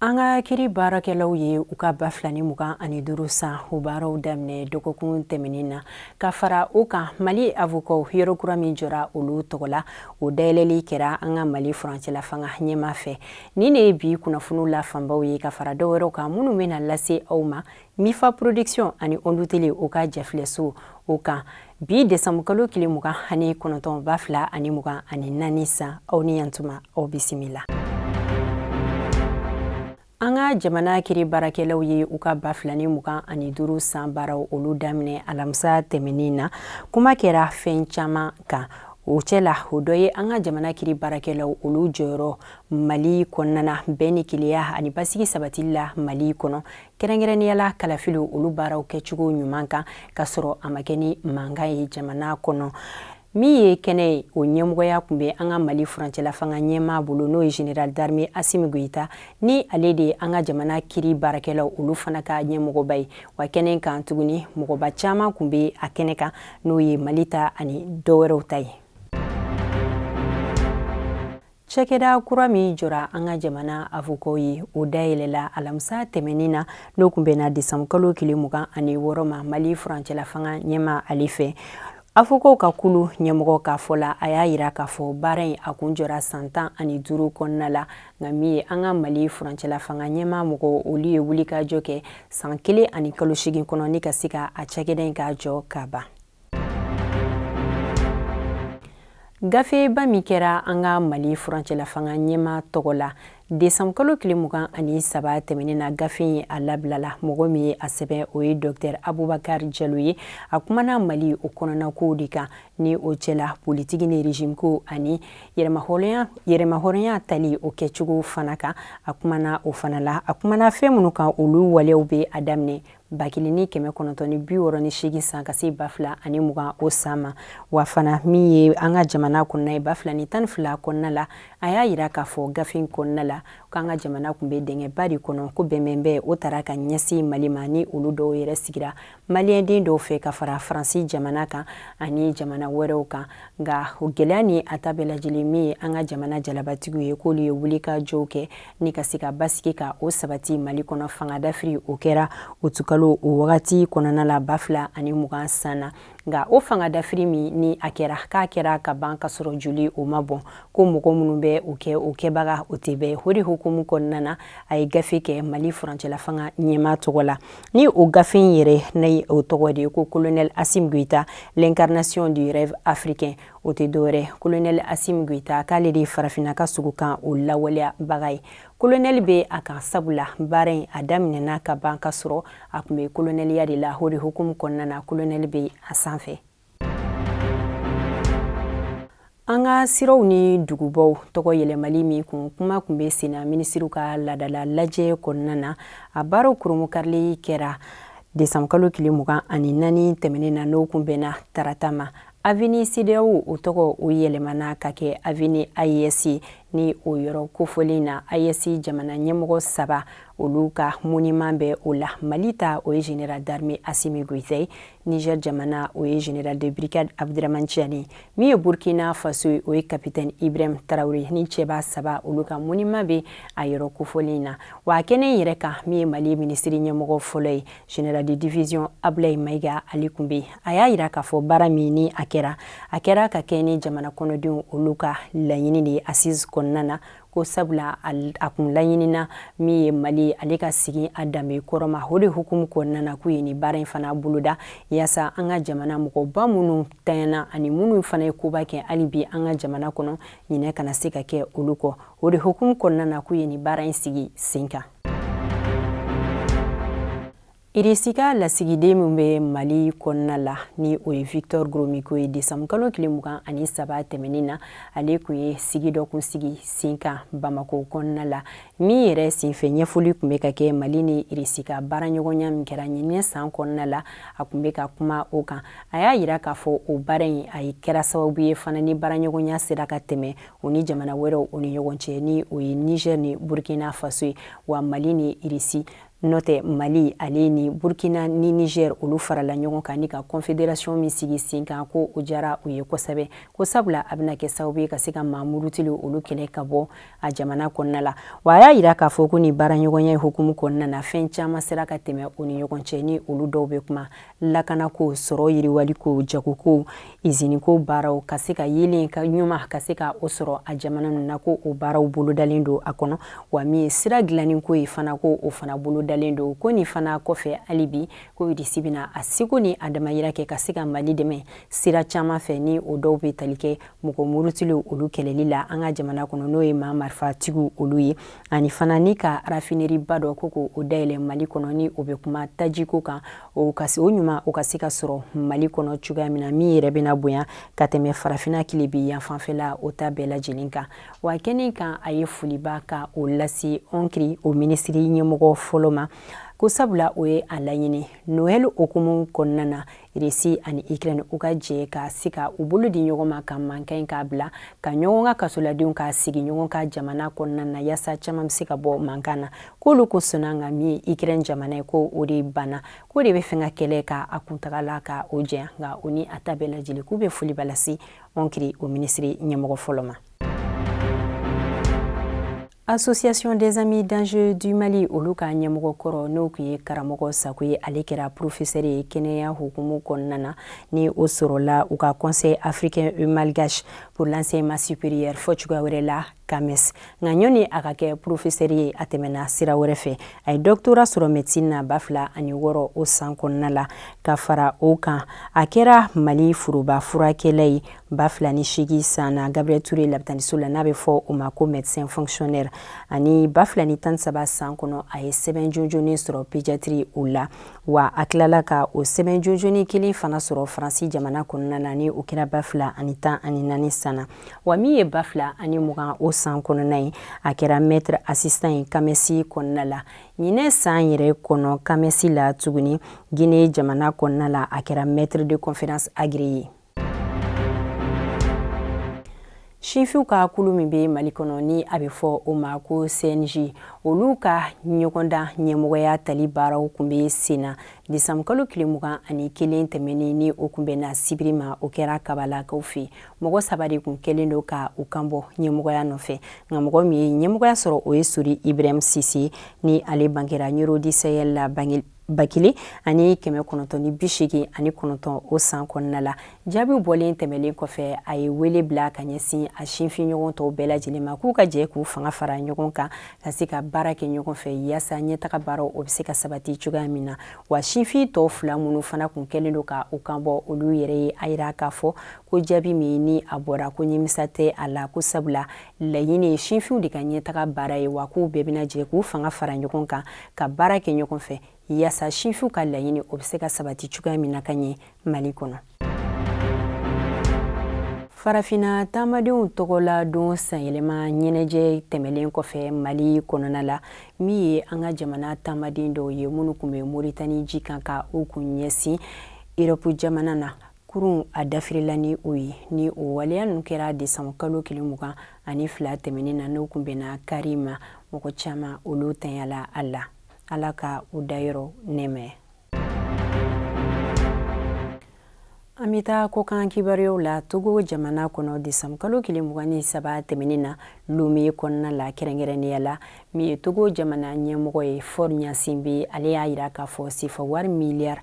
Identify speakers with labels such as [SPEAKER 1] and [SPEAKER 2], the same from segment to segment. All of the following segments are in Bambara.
[SPEAKER 1] an ka kiri baarakɛlaw ye u ka ba fila ni mugan ani duuru san o baaraw daminɛ dɔgɔkun tɛmɛnin na ka fara o kan mali avokaw yɔrɔ kura min jɔra olu tɔgɔ la o dayɛlɛli kɛra an ka mali furancɛlafanga ɲɛmaa fɛ Nin de ye bi kunnafoniw la fanbaw ye ka fara dɔw wɛrɛw kan minnu bɛna lase aw ma mifa production ani ondu tele o ka jɛfilɛso o kan bi desanbukalo tile mugan ani kɔnɔntɔn ba fila ani mugan ani naani san aw ni yantuma aw bisimila an ka jamana kiri baarakɛlaw ye u ka ba fila ni mugan ani duuru san baaraw olu daminɛ alamisa tɛmɛnin na kuma kɛra fɛn caman kan o cɛ la o dɔ ye an ka jamana kiri baarakɛlaw olu jɔyɔrɔ mali kɔnɔna bɛn ni kelenya ani basigi sabatili la mali kɔnɔ kɛrɛnkɛrɛnnenya la kalafiliw olu baaraw kɛcogo ɲuman kan ka sɔrɔ a ma kɛ ni mankan ye jamana kɔnɔ min ye kɛnɛ ye o ɲɛmɔgɔya kun bɛ an ka mali furancɛlafanga ɲɛmaa bolo n'o ye general darme asimi goyita ni ale de ye an ka jamana kiri baarakɛlaw olu fana ka ɲɛmɔgɔba ye wa kɛnɛ kan tuguni mɔgɔba caman kun bɛ a kɛnɛ kan n'o ye mali ta ani dɔwɛrɛw ta ye Cɛkɛda kura min jɔra an ka jamana avokaw ye o dayɛlɛla alamisa tɛmɛnin na n'o kun bɛnna desanbukalo tile mugan ani wɔɔrɔ ma mali furancɛlafanga ɲɛmaa ale fɛ avokaw ka kulu ɲɛmɔgɔ ka fɔ la a y'a yira k'a fɔ baara in a kun jɔra san tan ani duuru kɔnɔna la nka min ye an ka mali furancɛlafanga ɲɛma mɔgɔ olu ye wulikajɔ kɛ san kelen ani kalo seegin kɔnɔ ni ka se ka a cɛkɛda in k'a jɔ ka ban gafeba min kɛra an ka mali furancɛlafanga ɲɛmaa tɔgɔ la desanbukalo tile mugan ani saba tɛmɛnen na gafe in a labilala mɔgɔ min ye a sɛbɛn o ye dɔktɛr abubakar jalo ye a kumana mali o kɔnɔnakow de kan ni o cɛla politiki ni rezimko ani yɛrɛmahɔrɔnya tali o kɛcogo fana kan a kumana o fana la a kumana fɛn minnu kan olu waleyaw bɛ a daminɛ ba kelen ni kɛmɛ kɔnɔntɔn ni bi wɔɔrɔ ni seegin san ka se ba fila ani mugan o san ma wa fana min ye an ka jamana kɔnɔna ye ba fila ni tan ni fila kɔnɔna la a y'a yira k'a fɔ gafe kɔnɔna la k'an ka jamana kun bɛ dingɛba de kɔnɔ ko bɛnbɛn bɛɛ o taara ka ɲɛsin mali ma ni olu dɔw yɛrɛ sigira maliyɛnden dɔw fɛ ka fara faransi jamana kan ani jamana wɛrɛw kan nka o gɛlɛya ni a ta bɛɛ lajɛlen min ye an ka jamana jalabatigiw ye k'olu ye wulikajɔw kɛ ni ka se ka basigi ka o sabati mali kɔnɔ fanga dafiri o kɛra utukalo o wagati kɔnɔna la ba fila ani mugan san na nka o fanga dafiri min ni a kɛra k'a kɛra ka ban ka sɔrɔ joli o ma bɔn ko mɔgɔ minnu bɛ o kɛ o kɛbaga o tɛ bɛɛ o de hukumu kɔnɔna na a ye gafe kɛ mali furancɛla fanga ɲɛmaa tɔgɔ la ni o gafe in yɛrɛ ni o tɔgɔ de ye ko kolonɛli asimi goyita l'incarnation du rêve africain o tɛ dɔwɛrɛ kolonɛli asimi goyita k'ale de ye farafinna ka sugo kan o lawaleyabaga ye kolonɛli bɛ a kan sabula baara in a daminɛna ka ban ka sɔrɔ a tun bɛ kolonɛliya de la o de hukumu kɔnɔna na kolonɛli bɛ a sanfɛ an ka siraw ni dugubaw tɔgɔ yɛlɛmali min kun kuma tun bɛ senna minisiriw ka laadala lajɛ kɔnɔna na a baaraw kurunbonkarili kɛra desanburukalo tile mugan ani naani tɛmɛnen na n'o kun bɛnna tarata ma Avenue CEDEAO o tɔgɔ o yɛlɛmana ka kɛ avenue AES ni o yɔrɔ kofɔlen na AES jamana ɲɛmɔgɔ saba olu ka moniman bɛ o la mali ta o ye général d'armée asimi goyita ye nizɛri jamana o ye général de brigade abdourahamane tiani min ye burukina faso ye o ye capitaine ibrahim tarawele ni cɛba saba olu ka moniman bɛ a yɔrɔ kofɔlen na wa kɛnɛ yɛrɛ kan min ye mali minisiri ɲɛmɔgɔ fɔlɔ ye Général de division Ablaye Maiga ale tun bɛ a y'a jira k'a fɔ baara min ni a kɛra a kɛra ka kɛɲɛ ni jamana kɔnɔdenw olu ka laɲini de ye assise kɔnɔna na ko sabula a kun laɲinina min ye mali ale ka segin a danbe kɔrɔ ma o de hukumu kɔnɔna na k'u ye ni baara in fana boloda yaasa an ka jamana mɔgɔba minnu tanyana ani minnu fana ye koba kɛ hali bi an ka jamana kɔnɔ ɲinɛ kana se ka kɛ olu kɔ o de hukumu kɔnɔna na k'u ye ni baara in sigi sen kan irisi ka lasigiden min bɛ mali kɔnɔna la ni o ye victor gromiko ye desanburukalo tile mugan ani saba tɛmɛnin na ale tun ye sigi dɔ kun sigi sen kan bamako kɔnɔna la min yɛrɛ senfɛ ɲɛfɔli tun bɛ ka kɛ mali ni irisi ka baaraɲɔgɔnya min kɛra ɲinan san kɔnɔna la a tun bɛ ka kuma o kan a y'a yira k'a fɔ o baara in a kɛra sababu ye fana ni baaraɲɔgɔnya sera ka tɛmɛ o ni jamana wɛrɛw o ni ɲɔgɔn cɛ ni o ye niger ni burkina faso ye wa mali ni irisi n'o tɛ mali ale ni burkina ni niger olu farala ɲɔgɔn kan ni ka confederation min sigi sen kan ko o jara u ye kosɛbɛ ko sabula a bɛna kɛ sababu ye ka se ka maa murutilenw olu kɛlɛ ka bɔ a jamana kɔnɔna la wa a y'a yira k'a fɔ ko ni baaraɲɔgɔnya hukumu kɔnɔna na fɛn caman sera ka tɛmɛ u ni ɲɔgɔn cɛ ni olu dɔw bɛ kuma lakanako sɔrɔ yiriwaliko jagoko iziniko baaraw ka se ka yeelenko ɲuman ka se ka o sɔrɔ a jamana ninnu na ko o baaraw bolodalen don a kɔnɔ wa min ye sira dilanniko ye fana ko o fana bolodalen don ko nin fana kɔfɛ hali bi ko irisi bɛna a seko ni a damayira kɛ ka se ka mali dɛmɛ sira caman fɛ ni o dɔw bɛ tali kɛ mɔgɔ murutilenw olu kɛlɛli la an ka jamana kɔnɔ n'o ye maa marifatigiw olu ye ani fana ni ka rafineriba dɔ ko ko o dayɛlɛ mali kɔnɔ ni o bɛ kuma tajiko kan o ɲuman o ka se ka sɔrɔ mali kɔnɔ cogoya min na min yɛrɛ bɛna bonya ka tɛmɛ farafina kilebin yanfan fɛla o ta bɛɛ lajɛlen kan wa kɛnɛ kan a ye foliba ka o lase ɔnkiri o minisiri ɲɛmɔgɔ fɔlɔ ma ko sabula o ye a laɲini noɛl hukumu kɔnɔna na irisi ani ikrɛn u ka jɛ ka se ka u bolo di ɲɔgɔn ma ka mankan in k'a bila ka ɲɔgɔn ka kasoladenw ka sigi ɲɔgɔn ka jamana kɔnɔna na yaasa caman bɛ se ka bɔ mankan na k'olu kun sɔnna nka min ye ikrɛn jamana ye ko o de banna k'o de bɛ fɛ ka kɛlɛ ka a kuntagala ka o janya nka o ni a ta bɛɛ lajɛlen k'u bɛ foliba lase ɔnkiri o minisiri ɲɛmɔgɔ fɔlɔ ma association des amis d'angers du mali olu ka ɲɛmɔgɔ kɔrɔ n'o kun ye karamɔgɔ sako ye ale kɛra porofesɛri ye kɛnɛya hukumu kɔnɔna na ni o sɔrɔla u ka conseil africain et malgache pour l'enseignement supérieur fɔ cogoya wɛrɛ la kames nka ɲɔni a ka kɛ porofesɛri ye a tɛmɛna sira wɛrɛ fɛ a ye dɔktora sɔrɔ medecine na ba fila ani wɔɔrɔ o san kɔnɔna la ka fara o kan a kɛra mali foroba furakɛla ye ba fila ni seegin san na gabriel ture labitaniso la n'a bɛ fɔ o ma ko medecin fonctionnaire ani ba fila ni tan saba san kɔnɔ a ye sɛbɛn jɔnjɔnin sɔrɔ pediatrie o la wa a tilala ka o sɛbɛn jɔnjɔnin kelen fana sɔrɔ faransi jamana kɔnɔna na ni o kɛra ba fila ani tan ani naani san na wa min ye ba fila ani mugan o san kɔnɔna ye a kɛra maitre assistant ye kamɛsi kɔnɔna la ɲinɛ san yɛrɛ kɔnɔ kamɛsi la tuguni guinee jamana kɔnɔna la a kɛra maitre de conférence agrégé ye sinfinw ka kulu min bɛ mali kɔnɔ ni a bɛ fɔ o ma ko cnj olu ka ɲɔgɔndan ɲɛmɔgɔya tali baaraw kun bɛ sen na desanburukalo tile mugan ani kelen tɛmɛnen ni o kun bɛnna sibiri ma o kɛra kabalakaw fɛ mɔgɔ saba de kun kɛlen don ka u kan bɔ ɲɛmɔgɔya nɔfɛ nka mɔgɔ min ye ɲɛmɔgɔya sɔrɔ o ye sori ibrahim sise ni ale bangera ɲoro du sahel la bange ba kelen ani kɛmɛ kɔnɔntɔn ni bi seegin ani kɔnɔntɔn o san kɔnɔna la jaabiw bɔlen tɛmɛlen kɔfɛ a ye wele bila ka ɲɛsin a sinfin ɲɔgɔn tɔw bɛɛ lajɛlen ma k'u ka jɛ k'u fanga fara ɲɔgɔn kan ka se ka baara kɛ ɲɔgɔn fɛ yaasa ɲɛtaga baaraw o bɛ se ka sabati cogoya min na wa sinfin tɔw fila minnu fana kun kɛlen don ka u kan bɔ olu yɛrɛ ye a yira k'a fɔ ko jaabi min ni a bɔra ko ɲɛmisa tɛ a la ko sabula laɲini ye sinfinw de ka ɲɛtaga baara ye wa k'u bɛɛ bɛna jɛ k'u fanga fara ɲɔgɔn kan ka baara kɛ ɲɔgɔn fɛ yaasa sinfinw ka laɲini o bɛ se ka sabati cogoya min na ka ɲɛ mali kɔnɔ farafina taamadenw tɔgɔla don sanyɛlɛma ɲɛnajɛ tɛmɛlen kɔfɛ mali kɔnɔna la min ye an ka jamana taamaden dɔw ye minnu kun bɛ moritani ji kan ka u kun ɲɛsin erɔpu jamana na kurun a dafirila ni o ye ni o waleya ninnu kɛra desanbu kalo tile mugan ani fila tɛmɛnen na n'o kun bɛnna kari ma mɔgɔ caman olu tanyala a la ala ka u dayɔrɔ nɛɛma an bɛ taa kɔkan kibaruyaw la togo jamana kɔnɔ desanbu kalo tile mugan ni saba tɛmɛnen na lome kɔnɔna la kɛrɛnkɛrɛnnenya la min ye togo jamana ɲɛmɔgɔ ye faure gnassingbé ale y'a yira k'a fɔ sefa wari miliyari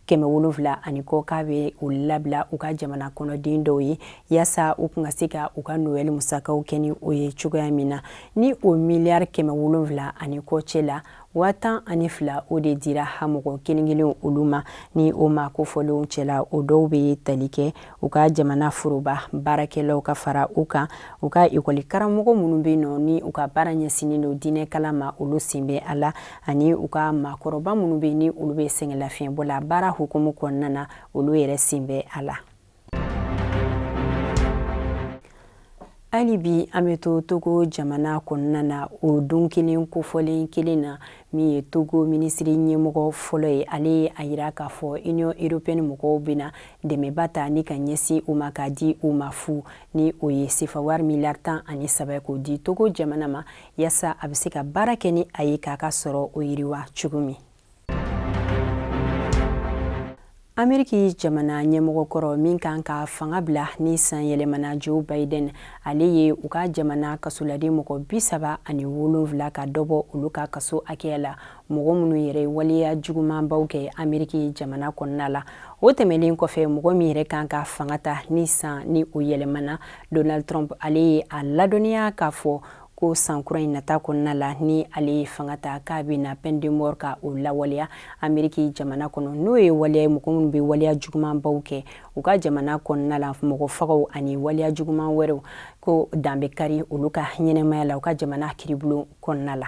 [SPEAKER 1] kɛmɛ wolonwula ani kɔ k'a bɛ u labila u ka jamana kɔnɔden dɔw ye yaasa u kun ka se ka u ka noɛli musakaw kɛ ni o ye cogoya min na ni o miliyari kɛmɛ wolonwula ani kɔ cɛ la waa tan ani fila o de dira ha mɔgɔ kelen kelen olu ma ni o maa kofɔlenw cɛla o dɔw bɛ tali kɛ u ka jamana foroba baarakɛlaw ka fara u kan u ka ekɔli karamɔgɔ minnu bɛ nɔ ni u ka baara ɲɛsinnen don diinɛ kalan ma olu sen bɛ a la ani u ka maakɔrɔba minnu bɛ ni olu bɛ sɛgɛnlafiɲɛbɔ la baara hukumu kɔnɔna na olu yɛrɛ sen bɛ a la hali bi an bɛ to togo jamana kɔnɔna na o don kelen kofɔlen kelen na min ye togo minisiri ɲɛmɔgɔ fɔlɔ ye ale ye a yira k'a fɔ union européenne mɔgɔw bɛna dɛmɛba ta ni ka ɲɛsin u ma k'a di u ma fu ni o ye sefa wari miliyari tan ani saba k'o di togo jamana ma yaasa a bɛ se ka baara kɛ ni a ye k'a ka sɔrɔ o yiriwa cogo min ameriki jamana ɲɛmɔgɔ kɔrɔ min kan ka fanga bila ni san yɛlɛmana joe biden ale ye u ka jamana kasoladen mɔgɔ bi saba ani wolonwula ka dɔ bɔ olu ka kaso hakɛya la mɔgɔ minnu yɛrɛ ye waleya jugumanbaw kɛ ameriki jamana kɔnɔna la o tɛmɛlen kɔfɛ mɔgɔ min yɛrɛ kan ka fanga ta ni san ni o yɛlɛmana donald trump ale ye a ladɔnniya k'a fɔ ko san kura in nata kɔnɔna la ni ale ye fanga ta k'a bɛna peine de mort ka o lawaleya Ameriki jamana kɔnɔ n'o ye waleya ye mɔgɔ minnu bɛ waleya jugumanbaw kɛ u ka jamana kɔnɔna la mɔgɔ fagaw ani waleya juguman wɛrɛw ko dan bɛ kari olu ka ɲɛnamaya la u ka jamana kiribulon kɔnɔna la.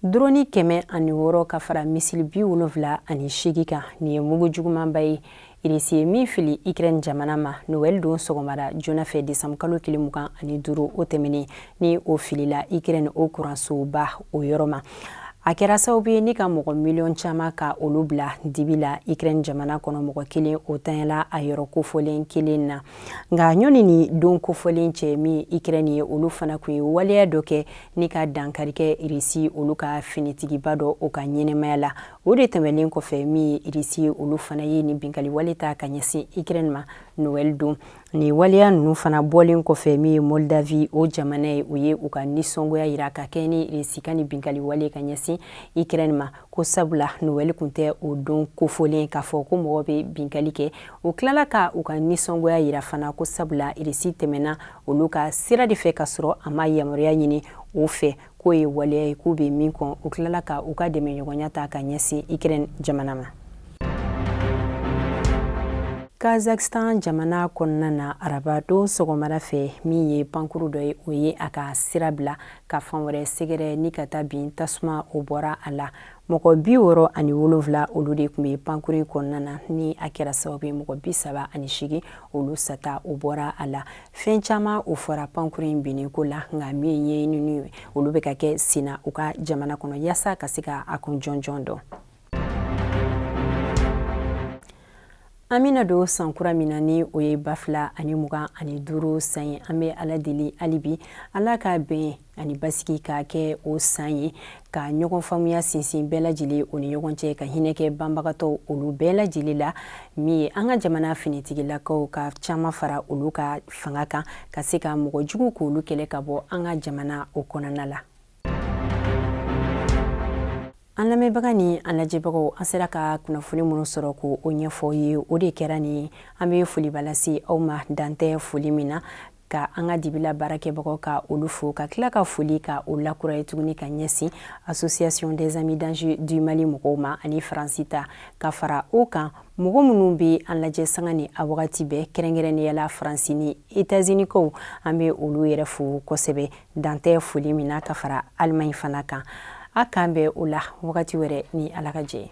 [SPEAKER 1] Drone kɛmɛ ani wɔɔrɔ ka fara misili bi wolonwula ani seegin kan nin ye mugu jugumanba ye irisi ye min fili ikrɛn jamana ma nowɛli don sɔgɔmada joona fɛ desanbu kalo tile mugan ani duuru o tɛmɛnen ni o filila ikrɛn o kuransoba o yɔrɔ ma a kɛra sababu ye ni ka mɔgɔ miliyɔn caman ka olu bila dibi la ikrɛn jamana kɔnɔ mɔgɔ kelen o tanyala a yɔrɔ kofɔlen kelen na nka ɲɔni ni don kofɔlen cɛ min ye ikrɛn ye olu fana kun ye waleya dɔ kɛ ni ka dankari kɛ irisi olu ka finitigiba dɔ o ka ɲɛnamaya la o de tɛmɛlen kɔfɛ min ye irisi ye olu fana ye ni binkali wale ta ka ɲɛsin ikrɛn ma nowɛli don ni waleya ninnu fana bɔlen kɔfɛ min ye moldavie o jamana ye u ye u ka nisɔngoya yira ka kɛ ni irisi ka ni binkali wale ka ɲɛsin ikrɛn ma ko sabula nowɛli tun tɛ o don kofɔlen k'a fɔ ko mɔgɔ bɛ binkali kɛ o tilala ka u ka nisɔngoya yira fana ko sabula irisi tɛmɛna olu ka sira de fɛ ka sɔrɔ a ma yamaruya ɲini o fɛ k'o ye waleya ye k'u bɛ min kɔn u tilala ka u ka dɛmɛɲɔgɔnya ta ka ɲɛsin ukraine jamana ma kazakistan jamana kɔnɔna na araba don sɔgɔmada fɛ min ye pankuru dɔ ye o ye a ka sira bila ka fan wɛrɛ sɛgɛrɛ ni ka taa bin tasuma o bɔra a la mɔgɔ bi wɔɔrɔ ani wolonwula olu de tun bɛ pankuru kɔnɔna na ni a kɛra sababu ye mɔgɔ bi saba ani segin olu sata o bɔra a la fɛn caman o fɔra pankuru in binnen ko la nka min ye ɲɛɲinini olu bɛ ka kɛ senna u ka jamana kɔnɔ yaasa ka se ka a kun jɔnjɔn dɔn an bɛna don san kura min na ni o ye ba fila ani mugan ani duuru san ye an bɛ ala deli hali bi ala ka bɛn ani basigi ka kɛ o san ye ka ɲɔgɔn faamuya sinsin bɛɛ lajɛlen o ni ɲɔgɔn cɛ ka hinɛ kɛ banbagatɔw olu bɛɛ lajɛlen la min ye an ka jamana finitigilakaw ka caman fara olu ka fanga kan ka se ka mɔgɔ jugu k'olu kɛlɛ ka bɔ an ka jamana o kɔnɔna la an lamɛnbaga ni an lajɛbagaw an sera ka kunnafoni minnu sɔrɔ k'o ɲɛfɔ ye o de kɛra ni an bɛ foliba lase aw ma dan tɛ foli min na ka an ka dibila baarakɛbagaw ka olu fo ka tila ka foli ka o lakuraya tuguni ka ɲɛsin association des amis d'angers du mali mɔgɔw ma ani faransi ta ka fara o kan mɔgɔ minnu bɛ an lajɛ sanga ni a wagati bɛɛ kɛrɛnkɛrɛnnenya la faransi ni etazinikaw an bɛ olu yɛrɛ fo kosɛbɛ dan tɛ foli min na ka fara alimaɲi fana kan a k'an bɛn o la wagati wɛrɛ ni ala ka jɛ ye